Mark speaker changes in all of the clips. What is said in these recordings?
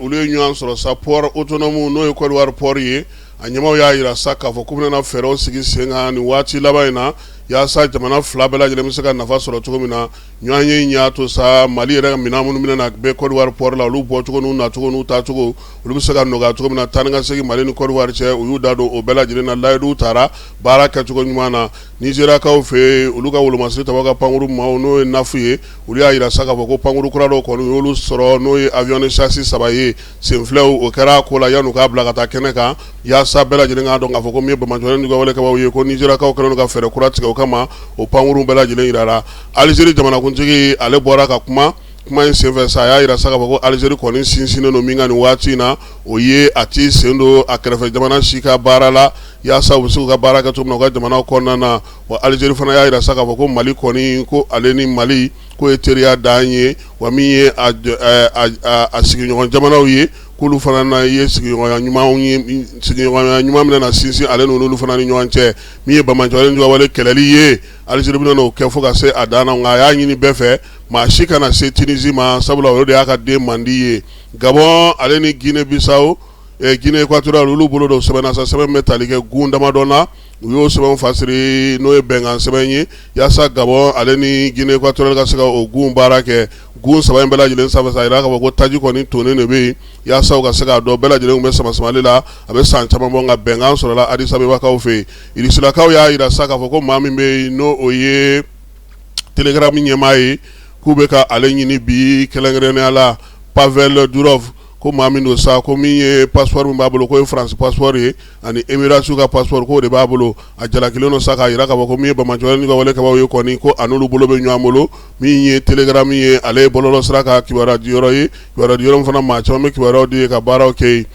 Speaker 1: olu ye ɲɔgɔn sɔrɔ sa pɔri otonɔmu n'o ye kɔdiwari pɔri ye a ɲɛmaaw y'a jira sa k'a fɔ k'u bɛna fɛɛrɛw sigi sen kan ni waati laban in na yaasa jamana fila bɛɛ lajɛlen bɛ se ka nafa sɔrɔ cogo min na ɲɔgɔn ye y'a to sa mali yɛrɛ ka minɛn minnu min na bɛ kɔdiwari pɔri la olu bɔcogo n'u nacogo n'u taacogo olu bɛ se ka nɔgɔya cogo min na taa ni ka segin mali ni kɔdiwari cɛ u y'u da don o bɛɛ lajɛlen na layidu taara baara kɛcogo ɲuman na nizeriyakaw fɛ olu ka wolomasiri tabaw ka pankurunmaaw n'o ye nafu ye olu y'a jira sa k'a fɔ ko pankurun kura dɔw kɔni u y'olu sɔrɔ n'o ye avion de chasse saba ye senfilɛw o kɛra ko la yan u k'a bila ka taa kɛnɛ kan yaasa bɛɛ lajɛlen k'a dɔn k'a fɔ ko min ye banbaanciwalekɛbagaw ye ko nizeriyakaw kɛlen don ka fɛɛrɛ kura tigɛ o kama o pankurun bɛɛ lajɛlen jirala alizeri jamanakuntigi ale bɔra ka kuma kuma in senfɛ sa a y'a jira sa k'a fɔ ko alizeri kɔni sinsinnen don min kan nin waati in na o ye a tɛ sen don a kɛrɛfɛ jamana si ka baara la yaasa u bɛ se ka baara kɛ cogo min na u ka jamana kɔnɔna na wa alizeri fana y'a jira sa k'a fɔ ko mali kɔni ko ale ni mali ko ye teriya dan ye wa min ye a sigiɲɔgɔn jamanaw ye k'olu fana na ye sigiɲɔgɔnya ɲuman bɛna sinsin ale n'olu fana ni ɲɔgɔn cɛ min ye banbaanciwale kɛlɛli ye alizeri bɛna o kɛ fo ka se a dan na nka a y'a ɲini bɛɛ fɛ maa si kana se tinizi ma sabula o de y'a ka den mandi ye gabɔn ale ni gine bisawo gine ekatoriyali olu bolo don sɛbɛn na sa sɛbɛn bɛ tali kɛ gun damadɔ la u y'o sɛbɛn fasiri n'o ye bɛnkan sɛbɛn ye yaasa gabɔn ale ni gine ekatoriyali ka se ka o gun baara kɛ gun saba in bɛɛ lajɛlen sanfɛ sa a jira k'a fɔ ko taji kɔni tonnen de bɛ yen yaasa u ka se k'a dɔn bɛɛ lajɛlen tun bɛ samasamali la a bɛ san caman bɔ nka bɛnkan sɔrɔla adisabebakaw fɛ yen irisilakaw y'a jira sa k'a fɔ ko maa min bɛ yen n'o ye telegramu ɲɛmaa ye k'u bɛ ka ale ɲini bi kɛrɛnkɛrɛnnenya la pavɛli durɔfu ko maa min don sa ko min ye pasipɔri min b'a bolo k'o ye faransi pasipɔri ye ani emiratiw ka pasipɔri k'o de b'a bolo a jalakilen don sa k'a jira k'a fɔ ko min ye banbaanciwalekɛbagaw ye kɔni ko a n'olu bolo bɛ ɲɔgɔn bolo min ye telegramu ye ale ye bɔlɔlɔsira ka kibaruyadiyɔrɔ ye kibaruyadiyɔrɔ min fana maa caman bɛ kibaruyaw di yen ka baaraw kɛ yen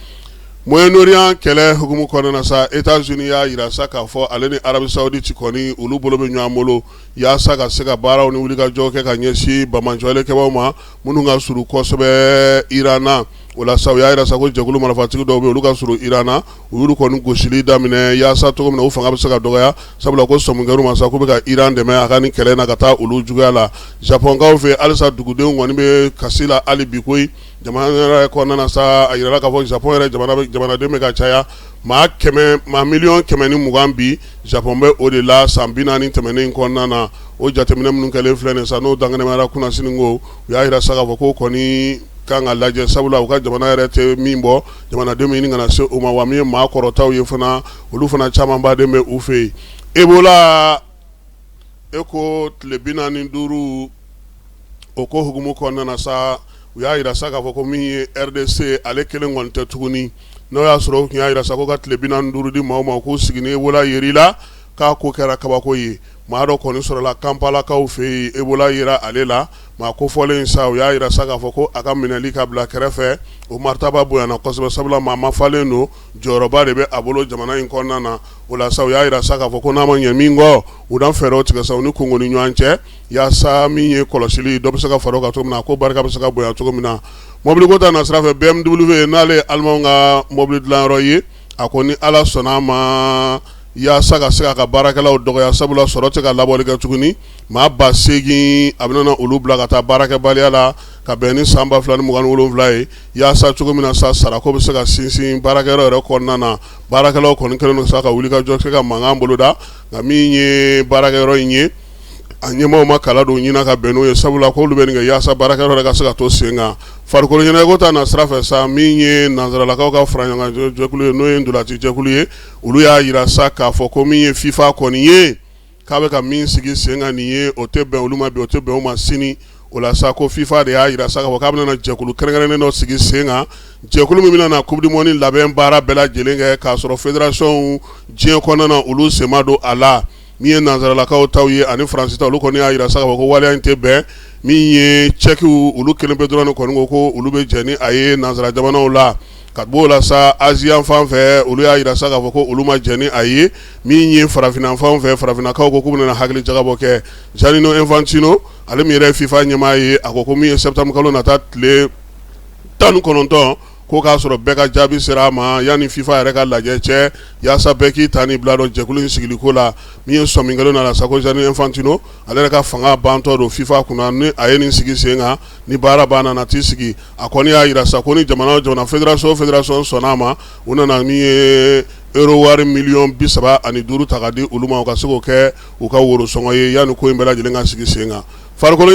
Speaker 1: mɔyɛnoriyan kɛlɛ hukumu kɔnɔna sa etazini y'a jira sa k'a fɔ ale ni arabi sawuditi kɔni olu bolo bɛ ɲɔgɔn bolo yaasa ka se ka baaraw ni wulikajɔ kɛ ka ɲɛsin banbaanciwalekɛbagaw ma minnu ka surun kosɛbɛ iran na o la sa u y'a jira sa ko jɛkulu marifatigi dɔw bɛ olu ka surun iran na u y'olu kɔni gosili daminɛ yaasa cogo min na u fanga bɛ se ka dɔgɔya sabula ko sɔmi kɛra u ma sa k'u bɛ ka iran dɛmɛ a ka nin kɛlɛ na ka taa olu juguya la japɔnkaw fɛ halisa dugudenw kɔni bɛ kasi la hali bi koyi jamana yɛrɛ kɔnɔna sa a jirala k'a fɔ japɔn yɛrɛ jamanaden bɛ ka caya maa maa miliyɔn kɛmɛ ni mugan bi Japɔn bɛ o de la san bi naani tɛmɛnen kɔnɔna na o jateminɛ minnu kɛlen filɛ nin ye sa n'o dankɛnɛmayara kunnasini ko u y'a jira sa k'a fɔ k'o kɔni ka kan ka lajɛ sabula u ka jamana yɛrɛ tɛ min bɔ jamanadenw bɛ ɲini ka na se o ma wa min ye maa kɔrɔtaw ye fana olu fana camanba de bɛ u fɛ yen ebola ko tile bi naani ni duuru o ko hukumu kɔnɔna na sa u y'a yira sa k'a fɔ ko min ye RDC ale kelen kɔni tɛ tuguni n'o y'a sɔrɔ u tun y'a yira sa ko ka tile bi naani ni duuru di maaw ma k'u sigi ni Ebola yer'i la k'a ko kɛra kabako ye maa dɔ kɔni sɔrɔla Kampalakaw fɛ yen Ebola yera ale la maa kofɔlen sa u y'a yira sa k'a fɔ ko a ka minɛli ka bila kɛrɛfɛ o maritaba bonyana kosɛbɛ sabula maa mafalen don jɔyɔrɔba de bɛ a bolo jamana in kɔnɔna na o la sa u y'a yira sa k'a fɔ ko n'a ma ɲɛ min kɔ u na fɛɛrɛw tigɛ sa u ni Kongo ni ɲɔgɔn cɛ Yaasa min ye kɔlɔsili dɔ bɛ se ka fara o kan cogo min na ko barika bɛ se ka bonya cogo min na mɔbili ko ta na sira fɛ BMW n'ale ye alimanw ka mɔbili dilanyɔrɔ ye a ko ni ala sɔnna a ma yaasa ka se k'a ka baarakɛlaw dɔgɔya sabula sɔrɔ tɛ ka labɔli kɛ tuguni maa ba segin a bɛna olu bila ka taa baarakɛbaliya la ka bɛn ni san ba fila ni mugan ni wolonwula ye yaasa cogo min na sa sarako bɛ se ka sinsin baarakɛyɔrɔ yɛrɛ kɔnɔna na baarakɛlaw kɔni kɛlen don sa ka wulikajɔ kɛ ka mankan boloda nka min ye baarakɛyɔrɔ in ye a ɲɛmaaw ma kala don ɲin na ka bɛn n'o ye sabula k'olu bɛ nin kɛ yaasa baarakɛyɔrɔ yɛrɛ ka se ka to sen kan farikolo ɲɛnajɛko ta na sira fɛ sa min ye nansaralakaw ka fara ɲɔgɔn jɛkulu ye n'o ye ntolaci jɛkulu ye olu y'a yira sa k'a fɔ ko min ye fifa kɔni ye k'a bɛ ka min sigi sen kan nin ye o tɛ bɛn olu ma bi o tɛ bɛn u ma sini o la sa ko fifa de y'a yira sa k'a bɛna jɛkulu kɛrɛnkɛrɛnnen dɔ sigi sen kan jɛkulu min bɛna na Coupe du Monde labɛn baara bɛɛ lajɛlen kɛ k'a sɔrɔ fédérationw diɲɛ kɔnɔna olu sen ma don a la min ye nansaralakaw taw ye ani Faransi ta olu kɔni y'a yira sa k'a fɔ ko waleya in tɛ bɛn min ye cɛkiw olu kelen pe dɔrɔn de kɔni ko ko olu bɛ jɛn ni a ye nansara jamanaw la ka bɔ o la sa Azi yanfan fɛ olu y'a yira sa k'a fɔ ko olu ma jɛn ni a ye min ye farafina fan fɛ farafinakaw ko k'u bɛna hakili jagabɔ kɛ Gianni Infantino ale min yɛrɛ fifa ɲɛmaa ye a ko ko min ye sɛtanburukalo nata tile tan ni kɔnɔntɔn ko k'a sɔrɔ bɛɛ ka jaabi sera a ma yanni fifa yɛrɛ ka lajɛ cɛ yaasa bɛɛ k'i ta ni bila dɔn jɛkulu in sigiliko la min ye sɔmi kɛlen don a la sa ko Gianni Infantino ale yɛrɛ ka fanga bantɔ don fifa kunna ni a ye nin sigi sen kan ni baara banna nana t'i sigi a kɔni y'a yira sa ko ni jamana o jamana fédération fédération sɔnna a ma u nana min ye euro wari miliyɔn bi saba ani duuru ta ka di olu ma u ka se k'o kɛ u ka worosɔngɔ ye yanni ko in bɛɛ lajɛlen ka sigi sen kan farikolo